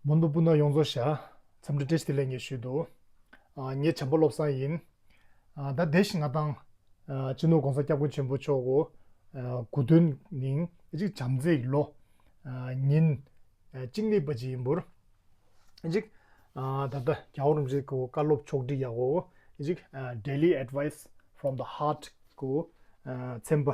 མོ་ནུ་སྤུན་ཟླ་ཡོངས་རྫོགས་ཤ། འཚམས་འདྲི་བཀྲ་ཤིས་བདེ་ལེགས་ངེས་ཞུས་འདུག། ངེད་བྱམས་པ་བློ་བཟང་ཡིན། ད་བདེ་བཞིན་ང་དང། སྤྱི་ནོར ྋགོང་ས ྋསྐྱབས་མགོན་ཆེན་པོ་མཆོག་གོ། དགུ་སྟོན་ཉིན། གཅིག་བྱམས་བརྩེའི་ལོ། ཉིན། གཅིག་ནི་པ་ཇི་ཡིན་འབུར། གཅིག། ད་ལྟ་རྒྱ་བོར་རིན་པོ་ཆེ་གོ་བཀའ་སློབ་མཆོག་བསྒྲིགས་ཡག་གོ། གཅིག། Daily advice from the heart གོ། འཚེམ་པ།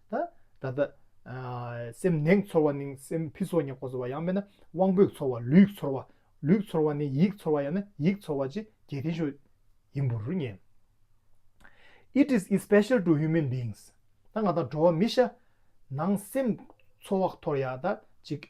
ད་ལྟ། སེམས་ནེངས་ཚོར་བ་ནི་སེམས་ཕི་སོ་ཉེ་ཁོ་ཚོར་བ་ཡང་མེད་ན་དབང་པོས་ཚོར་བ་ལུས་ཚོར་བ། ལུས་ཚོར་བ་ནི་ཡིད་ཚོར་བ་ཡང་ན་ཡིད་ཚོར་བ་ཅི་རྒྱལ་ཐེ་ཤོས་ཡིན་པུར་ངེས། It is especial to human beings ད་ང་དང་འགྲོ་བ་མི་ཤ་ནང་སེམས་ཚོར་བ་ཐོར་ཡག་ད་ཅིག་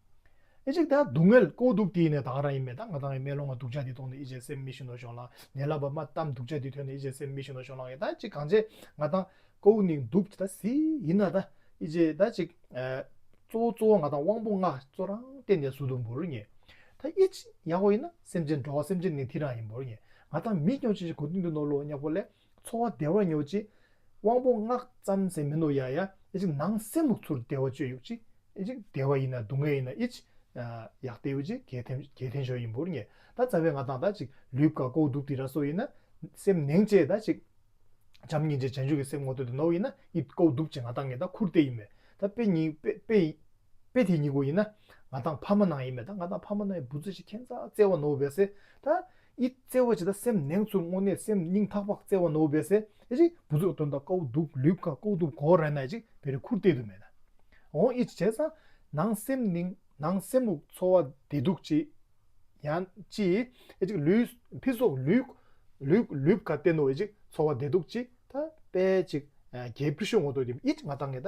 ཨེ་ཅིག་ད་སྡུག་བསྔལ་ལྐོག་འདུག་དེ་ཡིན་ནས་དང་ར་ཡིན་མེད་ད་ང་དང་ཡི་མེད་ལོང་ང་སྡུག་ཅག་འདི་མཐོང་ནས་ཨི་ཅེ་སེམས་མི་ཤུགས་ནོར་ཤོག་ལང་ངན་ལབ་པ་མ་གཏམ་སྡུག་ཅག་འདི་ཐོས་ནས་ཨི་ཅེ་སེམས་མི་ཤུགས་ནོར་ཤོག་ལང་ཡ་ད་ཅིག་གང་བྱེད་ང་དང་ཀོ་བོ་ནིང་འདུག་ད་སི་ཡིན་ན་ད་ཨི་ཅེ་ད་ཅིག་གཙོ་བོ་གཙོ་བོ་ང་དང་དབང་པོ་ལྔ་གཙོ་རང་བསྟན་ནས་སུ་དུ་འབུར་ངེས་ད་ཨི་ཅེ་ཡག་པོ་ཡིན་ན་སེམས་ཅན་འགྲོ་བ་སེམས་ཅན་ནིང་དི་རང་ཡིན་འབུར་ངེས་ང་དང་མི་སྐྱོང་ཅི་བྱེད་གོ་ཏིང་དུ་ནོར་ལོ་ཉག་པོ་ལས་འཚོ་བ་བདེ་བར་མྱོང་ཅིག། དབང་པོ་སྔགས་བརྩམ་ཟེར་མི་འདུག་ཡ་ཡ། ནང་སེམས་ལུགས་ཚུར་བདེ་བ་སྤྱོད་ཡོད་ཅིག། བདེ་བ་ཡིན་ན་སྡུག་བསྔལ་ཡིན་ན་ཨིཅི། ཡག་བདེ་ཡོད་ཅིག་གལ་ཐེན་ཞོ་ཡིན་བུར་ངེས། ད་རྩ་བའི་ང་དང་ད་ཅིག་ལུས་བཀའ་བསྒོ་བསྡུ་བསྟི་ར་སོགས་ཡིན་ན། སེམས་ནེང་བཅས་ད་ཅིག། བྱམས་སྙིང་རྗེ་བྱང་ཆུབ་ཀྱི་སེམས་ངོ་སྟོད་དུ་ནོར་བ་ཡིན་ན་ཨི། བསྒོ་བསྡུ་བཅས་ང་དང་ངེད་ད་ཁུར་བལྟས་ཡིན་མེད། ད་དཔེ་དེ་གཉིས་བསྒོ་ཡིན་ན། ང་དང་ཕ་མ་ནང་ཡིན་མེད་ད་ང་དང་ཕ་མ་ནང་ཡིན་བུ་རྩེ་ཞིག་ཁེན་ཚ་བརྩེ་བ་ནོར་བས་བསྲེ། ད། ཨི། བརྩེ་བ་ཇི་ལྟ་སེམས་ནེང་ཚུར་བསྔོ་ནས་སེམས་སྙིང་ཐག་པགས་བརྩེ་བ་ནོར་བས་སེ་རི་བུ་ཚུགས་དོན་དང་ཀའུ་དུག་ལུས་ཀ་ཀོ་དུག་གོ་རེ་ནས་ཅིག་བེ་རི་ཁུར་ཏེ་དུ་མེ་ན་འོང་ཨི་བྱས་ས་ནང་སེམས་སྙིང་ནང་སེམས་དབུགས་འཚོ་བ་བདེ་སྡུག་ཅི་ཡང་ཅི་ཨི་ཅིག་ལུས་ཕི་སོགས་ལུས་ལུས་ལུས་ཀ་བསྟན་ནོ་ཨི་ཅིག་འཚོ་བ་བདེ་སྡུག་ཅི་ད་པས་ཅིག་རྒྱལ་བུ་ཤོད་ངོ་ཏོ་ཨི་ཅིག་ང་ད་ངེ་ད་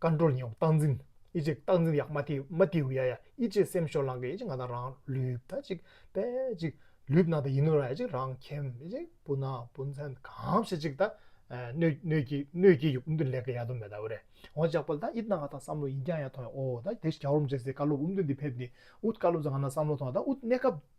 བཀའ་འགྲོར་ཉེ་བ་རྟག་འཛིན། ཨི་ཅེ་རྟག་འཛིན་ཡ་མ་ཏི་མ་ཏིའུ་ཡ་ཡ་ཨི་ཅེ་སེམས་ཤོར་ལང་ཀི་ཨི་ཅེ་ང་དང་རང་ལུས་ད་ཅིག་པད་ཅིག་ལུས་ན་ད་ཡིན་ནོ་ར་ཨི་ཅེ་རང་ཁྱིམ་ཨི་ཅེ་སྤུན་ན་སྤུན་མཚན་གང་བྱེད་ཅིག་ད་གནོད་ཀྱི་གནོད་ཀྱི་ཡུག་འུམ་དུ་ལེགས་ཀི་ཡ་དུ་མེ་ད་འུ་རེ་འོ་ཅག་པ་ལ་ད་ཨི་ཏང་ག་ད་བསམ་བློ་ཡིན་ཀྱང་ཡ་ཐོང་ཡ་ཨོ་ད་དེ་ཞག་རུམ་བྱེད་སའི་བཀའ་སློབ་འུམ་དུ་འདི་ཕེབས་ནི་ཨུཏ་བཀའ་སློབ་ཟ་ང་ན་བསམ་བློ་ཐོང་ད་ཨུཏ་གནས་སྐབས།